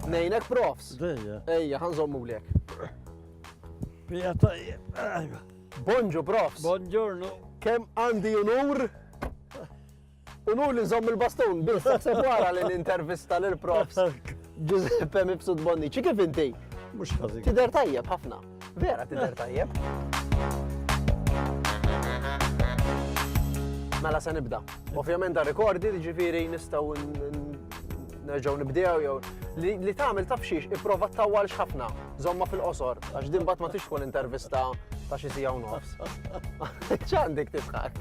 Nejnek profs. Dejja. Ejja, ħanżommu lek. Pija tajjeb. Bonġu profs. Bonġurnu. Kem għandi unur Unur li nżomm il-bastun, biss taħseb wara li nintervista lil profs Giuseppe Mifsud Bonnici, kif inti? Mux ħażin. Tider tajjeb ħafna. Vera tider tajjeb. Mela se nibda. Ovvjament da rekordi ġifiri nistaw nerġaw nibdew jew li tagħmel taf xiex ipprova tawwal ħafna, żomma fil-qosor, għax din bat ma tix tkun intervista ta' xi siegħu nofs. Ċ'għandek tibħak?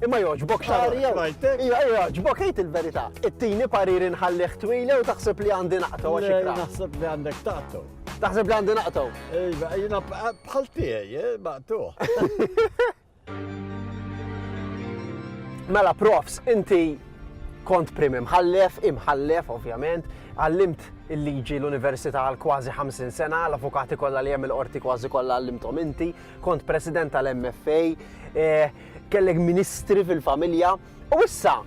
Imma joġbok xar. Ija, joġbok, ejt il-verita. It-tini parir inħallih twile u taħseb li għandi naqtaw għax ikra. Taħseb li għandek taqtaw. Taħseb li għandi naqtaw. Ejba, jina bħal tiegħi, eh, maqtuħ. Mela, profs, inti kont prim imħallef, imħallef, ovvjament, għallimt il-liġi l-Università għal kważi 50 sena, l-avukati kollha li hemm il-qorti kważi kollha għallimthom inti, Kont president tal-MFA, eh, kellek ministri fil-familja, u issa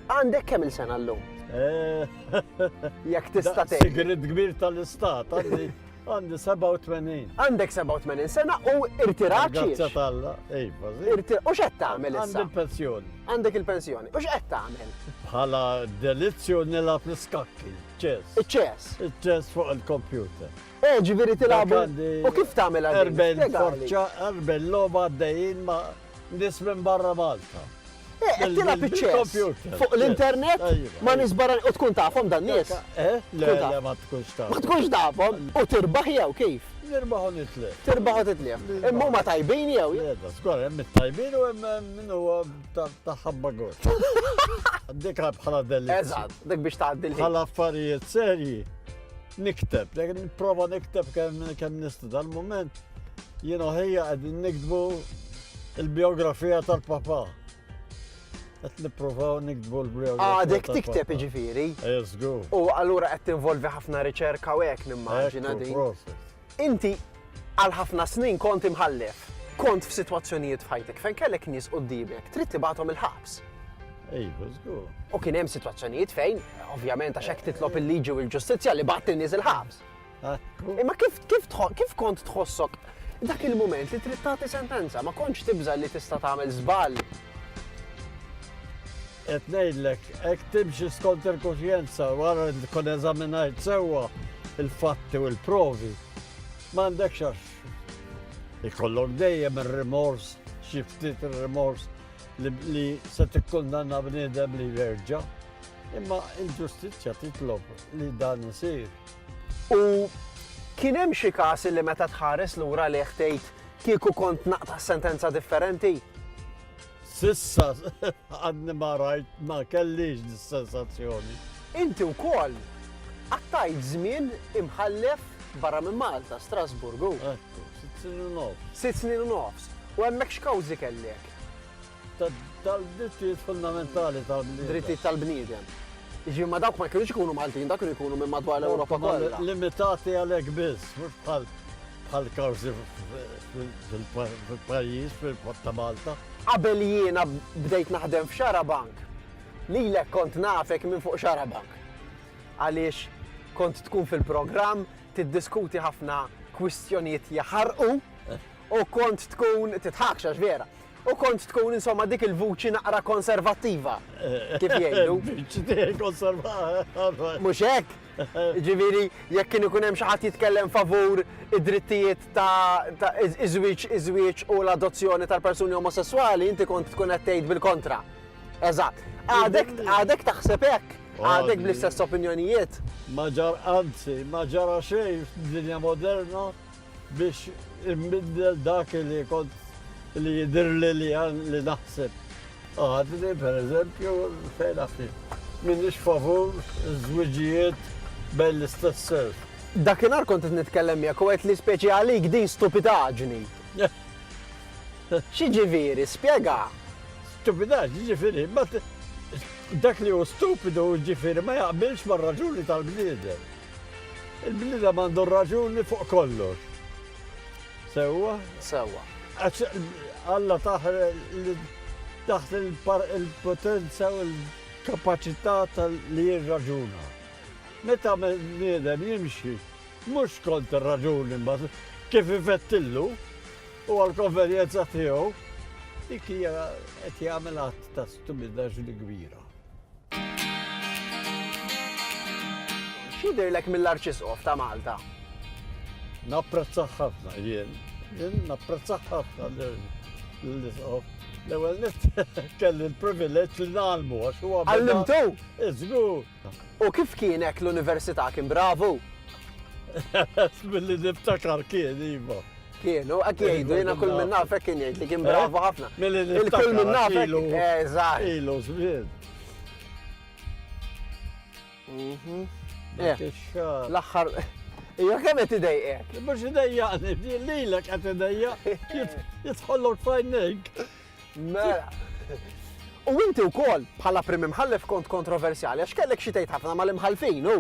għandek kemm il-sena l-lum? Eh. Jek tista' tgħid. Sigrid kbir tal-istat, għandi għandi 87. Għandek 87 sena u irtirat. Grazie tal-la, ejba, U xed tagħmel issa? Għandi il-pensjoni. Għandek il-pensjoni. U xed tagħmel? Bħala delizzju nilgħab l-iskakki, ċess. Iċ-ċess. Iċ-ċess fuq il-kompjuter. Eh, ġifieri tilgħabu. U kif tagħmel għal Erbejn forċa, erbejn logħba għaddejjin ma' nies minn barra Malta. Eh, qed tilgħab iċ-ċess. Fuq l-internet ma nisbara u tkun tafhom dan nies. Eh, le, le ma tkunx tafhom. Ma tkunx tafhom u tirbaħ jew kif? Nirbaħu nitlef. Tirbaħu titlef. Imma huma tajbin jew? Jeda, skor, hemm it-tajbin u hemm min huwa ta' ħabba gor. Dik bħala delli. Eżatt, dik biex tgħaddi l Bħala affarijiet serji. Nikteb, nipprova nikteb kemm nista' dal-mument jien ħejja qegħdin nikdbu il-biografija tal-papa. Qed nippruvaw nikdbu l-biografija. Għadek tikteb iġifieri. Eżgu. U allura qed tinvolvi ħafna riċerka u hekk nimmaġina din. Inti għal ħafna snin kont imħallef. Kont f'sitwazzjonijiet f'ħajtek fejn kellek nies quddiemek trid tibgħathom il-ħabs. Iva, żgur. U kien hemm sitwazzjonijiet fejn, ovvjament għax hekk titlob il-liġi u l-ġustizzja li bagħat in-nies il-ħabs. Imma kif kif tħo- kif kont tħossok dak il-mument li trid tagħti sentenza, ma kontx tibża' li tista' tagħmel żball. Qed ngħidlek, hekk timxi skont il-kuxjenza wara li tkun eżaminajt sewwa il-fatti u l-provi. M'għandekx għax ikollok dejjem ir-rimors, xi ftit ir-rimors li se tikkundanna bniedem li jerġa'. Imma il-ġustizzja titlob li dan isir. U kien hemm xi każ li meta tħares lura li ħtejt kieku kont naqta' sentenza differenti? S'issa għadni ma rajt, ma kellix dis-sensazzjoni. Inti wkoll qattajt żmien imħallef barra minn Malta, Strasburgu. Ekku, sitt snin u nofs. Sitt snin u nofs. U hemmhekk x'kawżi kellek? Tal-drittijiet fundamentali tal-bniedem. Drittijiet tal-bniedem. Jiġifieri ma dawk ma kienux ikunu Maltin, dawk kienu jkunu minn madwar l-Ewropa kollha. Limitati għalhekk biss, mhux bħal bħal kawżi fil-pajjiż fil-port ta' Malta. Qabel jiena bdejt naħdem f'Xarabank, lilek kont nafek minn fuq Xarabank. Għaliex kont tkun fil-programm tiddiskuti ħafna kwistjonijiet jaħarqu u kont tkun titħakx għax vera. U kont tkun insomma dik il-vuċi naqra konservattiva, kif jgħidu. Mhux hekk? Ġifieri jekk kien ikun hemm xi ħadd jitkellem favur id-drittijiet ta' iż-żwieġ iż-żwieġ u l-adozzjoni tal-persuni omosesswali inti kont tkun qed tgħid bil-kontra. Eżatt. Għadek għadek taħseb hekk? Għadek bl-istess opinjonijiet? Ma ġar anzi, ma ġara xejn f'dinja moderna. biex imbiddel dak li kont li jidirli li għan li naħseb. Għadni, per eżempju, fejn għafni, minnix favur zwiġijiet bejn l-istess sers. Dakinar kont nitkellem jek u għet li speċi għalik din stupidaġni. Xieġiviri, spiega? Stupidaġni ġifiri, dak li u stupidu ġifiri ma jaqbilx mar raġuni tal-bniedem. Il-bniedem għandu r-raġuni fuq kollox. Sewwa? Sewwa. Alla taħ taħt il-potenza u l-kapacità li jirraġuna. Meta niedem jimxi, mhux kont ir-raġuni ma kif ifettillu u għal-konvenjenza tiegħu, dik hija qed jagħmel għadd ta' stupidaġni kbira. X'jidhirlek mill-Arċisqof ta' Malta? Napprezzah ħafna jien. Jien napprezzah ħafna l-Isqof. L-ewwel nett kelli l-privileġġ li nagħlmu għax huwa. Għallimtu? Iżgur. U kif kien hekk l-università kien bravu? Billi niftakar kien iva. Kienu, għak jgħidu, jena kull minn nafek kien jgħid li kien bravu eh? ħafna. Il-kull minn nafek. Eżatt. Eh, ilu żmien. Mhm. Eh. L-aħħar. Ija kemm qed idejqek? Mhux idejjaqni, lilek qed idejjaq jitħollok fajnik. Mela. U inti wkoll bħala prim imħallef kont kontroversjali għax kellek xi tgħid ħafna mal-imħalfin u.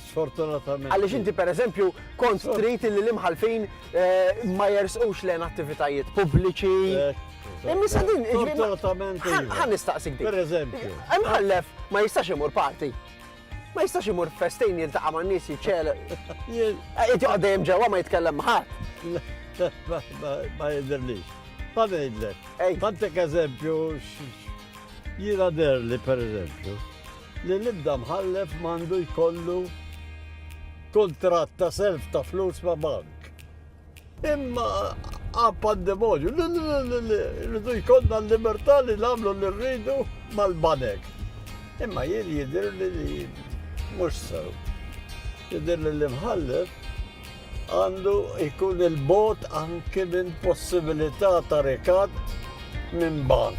Sfortunatament. Għaliex inti pereżempju kont trid li l-imħalfin eh, ma jersqux lejn attivitajiet pubbliċi. Eh, Imma sa din, Sfortunatament. Iva. Ħan nistaqsik din. Pereżempju. Imħallef ma jistax imur parti. Ma jistax imur festejn jiltaqa' man nies jiċċel. Qed joqgħod dejjem ġewwa ma jitkellem ħadd. Ma jidhirlix. Ma ngħidlek. Għandek eżempju jiena derli pereżempju. li l-ebda mħallef m'għandu jkollu kuntratt ta' self ta' flus ma' bank. Imma għab pandemonju, rridu jkollna l-libertà li nagħmlu li rridu mal-banek. Imma jien jidir li mhux sew. Jidir li l-imħallef Għandu jkun 'il bogħod anki minn possibilità ta' rikatt minn bank.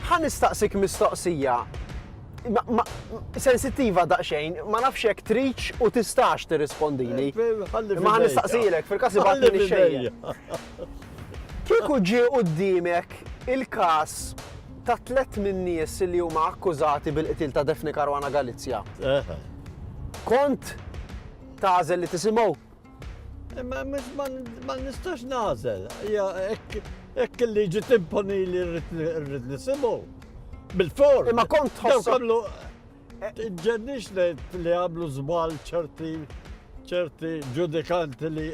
Ħa nistaqsik mistoqsija sensittiva daqsxejn, ma nafx jekk tridx u tistax tirrispondili. Imma ħa nistaqsilek fil-każ li baqgħet minn xejn. Kieku ġie quddiemek il-każ ta' tliet min-nies li huma akkużati bil-qtil ta' Daphne Caruana Galizia, kont Tagħżel li tisimgħu? Imma mhux ma nistax nagħżel. Hija hekk il-liġi timponi li rrid nisimgħu. Bil-for. Imma kont tħosslu. Ġennix li għamlu żball ċerti ċerti ġudikanti li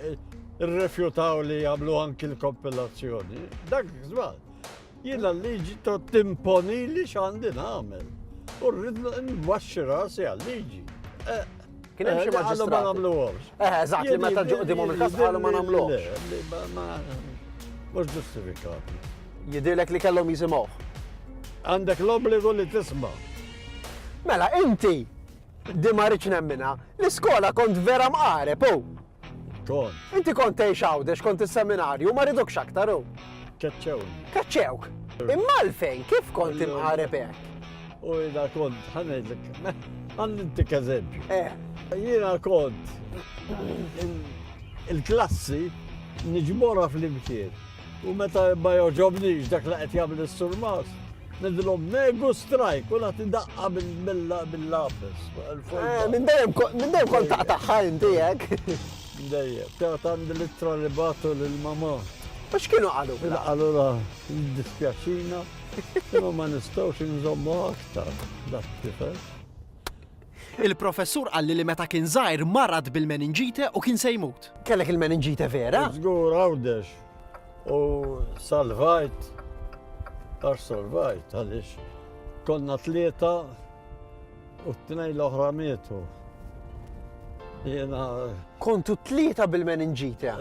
rrefjutaw li jagħmlu anki l-kompilazzjoni. Dak żball. Jiena l-liġi tgħod timponili x'għandi nagħmel. U rrid nwaxxi rasi għal-liġi. Eh, Kien hemm xi eh, maġistrat. Ma nagħmluhomx. Eh, eżatt, li meta ġu qudimhom il-każ qalu ma nagħmluhomx. Mhux ġustifikat. Jidilek li kellhom jisimgħu. Għandek l-obbligu li tisma'. Mela, inti, di ma rridx nemmina, l-iskola kont vera mqareb, oh. Kont. Inti kont tgħix Għawdex, kont is-seminarju u ma ridukx aktar u. Keċċewni. Keċċewk. Imma għalfejn kif kont imqareb hekk? U jiena kont ħanedlek. Għandintik eżempju. Eh. Jiena kont il-klassi niġmora fl-imkien. U meta ma joġobnix dak li qed jagħmel is-surmas, nidilhom megu strajk u nagħti daqqa bil-lapis. Eh, minn dejjem kont taqtaħħa inti hekk. Dejjem, tgħid għandi l-ittra li batu lil mama. U x'kienu qalu? Qalu la, dispjaċina, imma ma nistgħux inżommu aktar dak tifel. Il-professur qalli li meta kien żgħir marad bil-meninġite u kien se jmut. Kellek il-meninġite vera? Żgur Għawdex. U salvajt għax salvajt għaliex konna tlieta u t-tnejn l-oħra mietu. Jiena. Kontu tlieta bil-meninġite.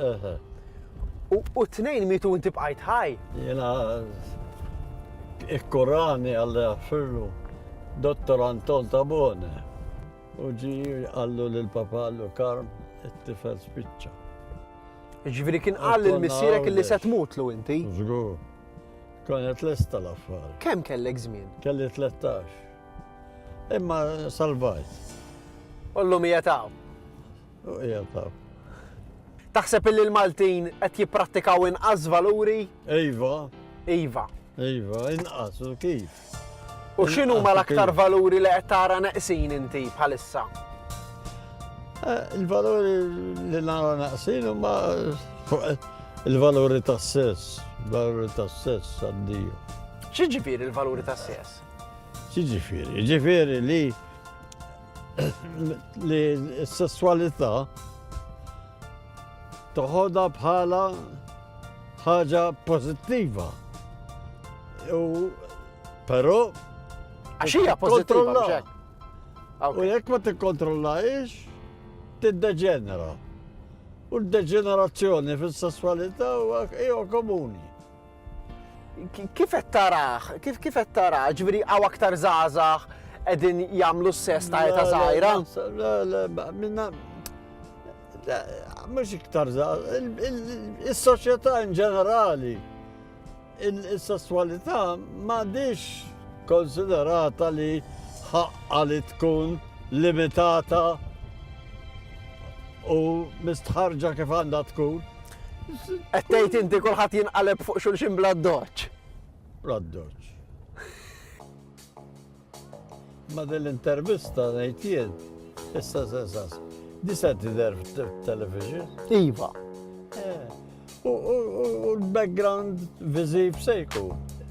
u t-tnejn mietu inti bqajt ħaj. Jiena ikkurani Alla jaħfirlu Dottor Anton Tabone u ġi għallu lil papa għallu Karm it-tifel spiċċa. Ġifieri kien qal lil missierek li se tmutlu inti. Żgur. Konet lesta l-affar. Kemm kellek żmien? Kelli 13. Imma salvajt. Ollu mija taw. Taħseb illi l-Maltin qed jipprattikaw inqas valuri? Iva. Iva. Iva, inqas u kif. U x'inhu ma l-aktar valuri li qed tara neqsin inti bħalissa? Eh, il-valuri li nara naqsin huma il-valuri tas-sess, valuri tas-sess għaddiju. Xi ġifieri il-valuri tas-sess? Xi ġifieri? Ġifieri li Li s-sessualità toħodha bħala ħaġa pożittiva. U però għax hija pożittiva. U jekk ma tikkontrollahiex, tiddeġenera. U d-deġenerazzjoni fis-sessualità huwa komuni. Kif qed taraħ? Kif kif qed taraħ? Ġifieri hawn aktar żgħażagħ qegħdin jagħmlu s-sess ta' eta żgħira? Le, le, minna mhux iktar żgħażagħ, is-soċjetà in ġenerali il-sessualità m'għadix konsiderata li ħaqqa li tkun limitata u mistħarġa kif għandha tkun. Qed tgħid inti kulħadd jinqaleb fuq xulxin bla doċ. Bla doċ. Ma din l-intervista ngħid jien, issa sensas. Disa tidher television. Iva. Eh, u l-background viżiv sejku.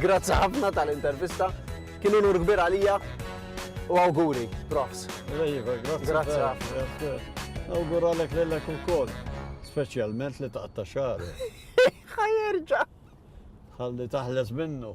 Grazzi ħafna tal-intervista. Kien unur kbir għalija u awguri, profs. Iva, grazzi ħafna. Awgura lek lillek ukoll, speċjalment li taqta' xar. Ħajerġa'. Ħalli taħles minnu.